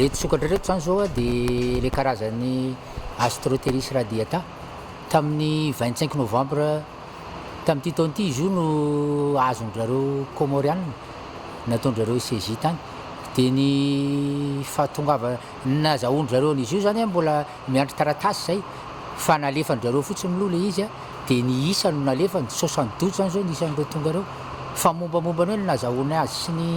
Ireto sokatra ireto izany izao dia ilay karazan'ny Astroteris radiata. Tamin'ny vingt cinq novembre tamin'ity taona ity izy io no azon-dry zareo Kômôrianina nataon-dry zareo CJ tany. Dia ny fahatongavana, ny nazahoan-dry zareo an'izy io izany mbola Miandry taratasy zay fa nalefan drareo fotsiny mlou le izy a, de ny isa no nalefany, soixante douze zany zao ny isan'ireo tonga reo, fa mombamomba ny hoe ny nazahoany azy sy ny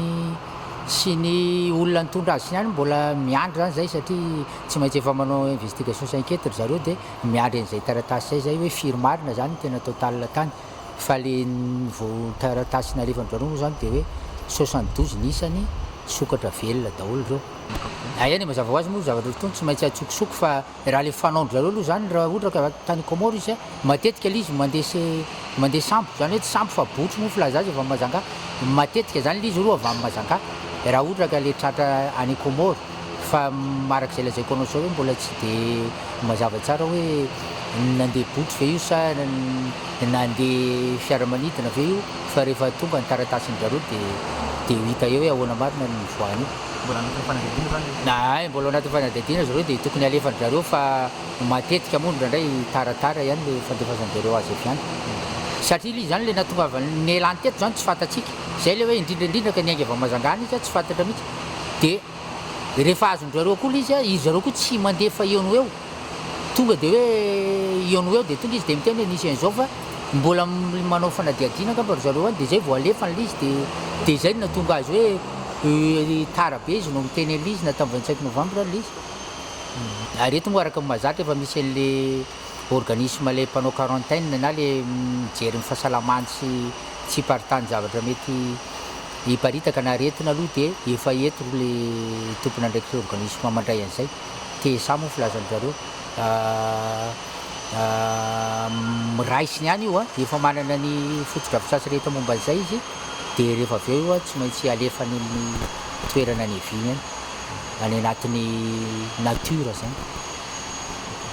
sy ny olona nitondra azy sy ny any mbola miandry zany zay satria tsy maintsy efa manao investigation sy enquete ry zareo de miandry an'izay taratasy zay zay hoe firy marina zany ny tena total tany fa le ny vao taratasy nalefan drareo moa zany de hoe soixante douze ny isany sokatra velona daholo reo. Aia ny mazava ho azy moa io zavatra io tony tsy maintsy atsokosoko fa raha le fanao ndry zareo aloha zany raha ohatra ka tany comore izy matetika le izy mande se mande sambo zany hoe tsy sambo fa botry moa filaza azy avy am mazangaha matetika zany le izy aloha avy am mazangaha raha ohatra ka le tratra any comore fa araka ze lazaiko anao zao hoe mbola tsy de mazava tsara hoe nande botry ve io sa nande fiaramanidina ve io fa rehefa tonga ny taratasy ndry zareo de de ho hita eo hoe ahoana marina ny nivoahan'io. Mbola anatin'ny fanadihadiana izany izy? Ahay, mbola anatin'ny fanadihadiana zareo dia tokony alefan'ny zareo fa matetika moa indraindray taratara ihany ilay fandefasan zareo azy avy any. Satria ilay izy izany ilay nahatongavany nialany teto izany tsy fantatsika. Izay ilay hoe indrindra indrindra ka niainga avy any Mazangaana izy tsy fantatra mihitsy. Dia rehefa azon-dry zareo koa ilay izy, izy zareo koa tsy mandefa eo no eo. Tonga dia hoe eo no eo dia tonga izy dia miteny hoe nisy an'izao fa mbola manao fanadihadiana angamba ry zareo any dia izay vao alefa an'ilay izy dia dia izay no nahatonga azy hoe tara be izy no miteny an'ilay izy na tamin'ny vingt cinq novembre ilay izy. Ary eto moa araka ny mahazatra efa misy an'ilay organisme ilay mpanao quarantaine na ilay mijery ny fahasalamany sy tsy hiparitany zavatra mety hiparitaka na aretina aloha dia efa eto ilay tompon'andraikitra organisme mandray an'izay. TSA moa filazan-dry zareo. Miraisiny ihany io, efa manana ny fotodrafitrasa rehetra momba an'izay izy dia rehefa avy eo io tsy maintsy alefany amin'ny toerana niaviany any, any anatin'ny natiora izany.